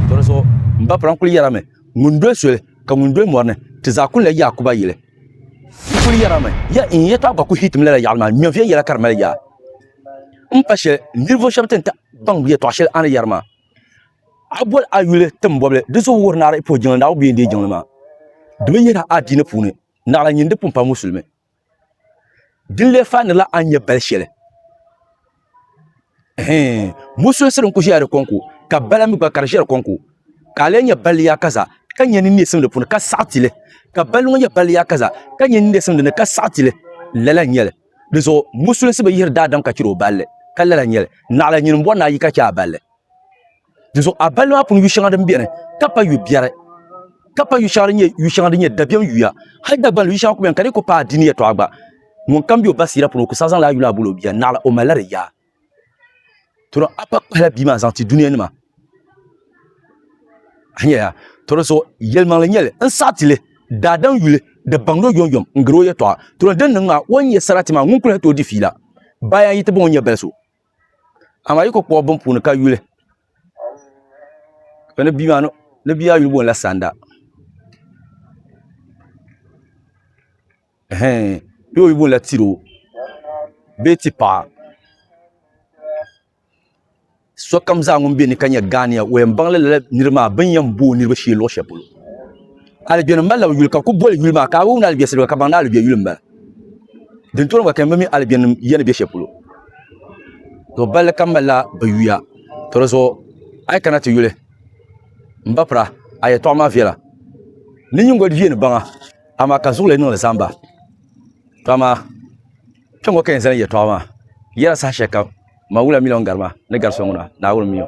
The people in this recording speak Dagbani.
Tɔrisɔ n ba pran kuli yɛrami ŋun doli soli ka ŋun doli mɔri ni ti zaa kuli la Yaakuba yili. N kuli yɛrami ya n ya tɔɣa gbaku Hiitim lala yaɣili maa nyɔviya yɛla ka di mali yaa. M pa shɛli ninvuɣ shɛb ti ni ta baŋ yɛtɔɣ shɛli a ni yɛri maa. A boli a yuli tim bɔbili di zuɣu wuhiri ni a di puhi jiŋli Naawuni bee n-deei jiŋli maa. Di bi yihira a diini puuni naɣila nyin di pun pali Musulimi. Din lee faanila a ni nyɛ bal shɛli. Hɛɛn, musunsiri n-ku ʒiɛya di kɔŋko, ka bala mi gba ka di ʒiɛ di kɔŋko. Ka a lee nyɛ bal yaakaza, ka nyɛ nini neesim di puuni, ka saɣi ti li. Ka bal ŋɔ nyɛ bal yaakaza, ka nyɛ nini neesim di ni, ka saɣi ti li. Lala n-nyɛ li. Dizuɣu musunsi bi yihiri daadam ka chɛri o balli, ka lala n-nyɛ li. Naɣila nyini m-bɔri ni a yi ka chɛ a balli. dinzuɣu a bali maa puuni yu shɛŋa din biɛni ka pa yu biɛri ka pa yu shɛŋa din nyɛ yu shɛŋa din nyɛ dabiɛm yuya hali dagbanli yu shɛŋa ku biɛni ka di ku paai dini yɛtɔɣa gba ŋun kam bɛ o ba siira puuni o ku saa zaŋla a yuli a boli o bia naɣila o malila di yaa toro a pa kpahila bia maa zaŋ ti dunia nima a nyɛya toro so yɛlimaŋli nyɛli n saɣa tili daadam yuli di baŋdo yom yom n gari o yɛtɔɣa toro din niŋ maa o ni nyɛ sarati maa ŋun kuli hɛti o di fiila bayan yi ti baŋ o nyɛ baliso amaa yi ku kpuɣi bin puuni ka yuli ni bia maa ni bia maa yuli boŋla sanda bee o yuli boŋla tiro bee ti paɣa sokam zaa ŋun bɛ ni ka nyɛ ghaaniya o yɛn baŋla lala nira maa bin yɛn bo o niraba shee luɣu shɛli polo Aligbɛni malila bi yuli ka ku boli yuli maa ka a wumni aligbɛ siliba ka baŋdi aligbɛ yuli m-bala. Din tooni gba ka mi aligbɛnnim ya ni be shɛli polo. To balli kam malila bi yuya. To di zuɣu a yi kana ti yuli m ba pira a yɛtɔɣa maa viɛla ni nyingoli viɛ ni baŋa amaa ka zuɣu lee niŋdi zamba. To amaa kpɛŋŋo ka yɛn zani yɛtɔɣa maa yɛla saha shɛli kam ma wula miliɔn garima ni gari so ŋuna Naawuni miyu.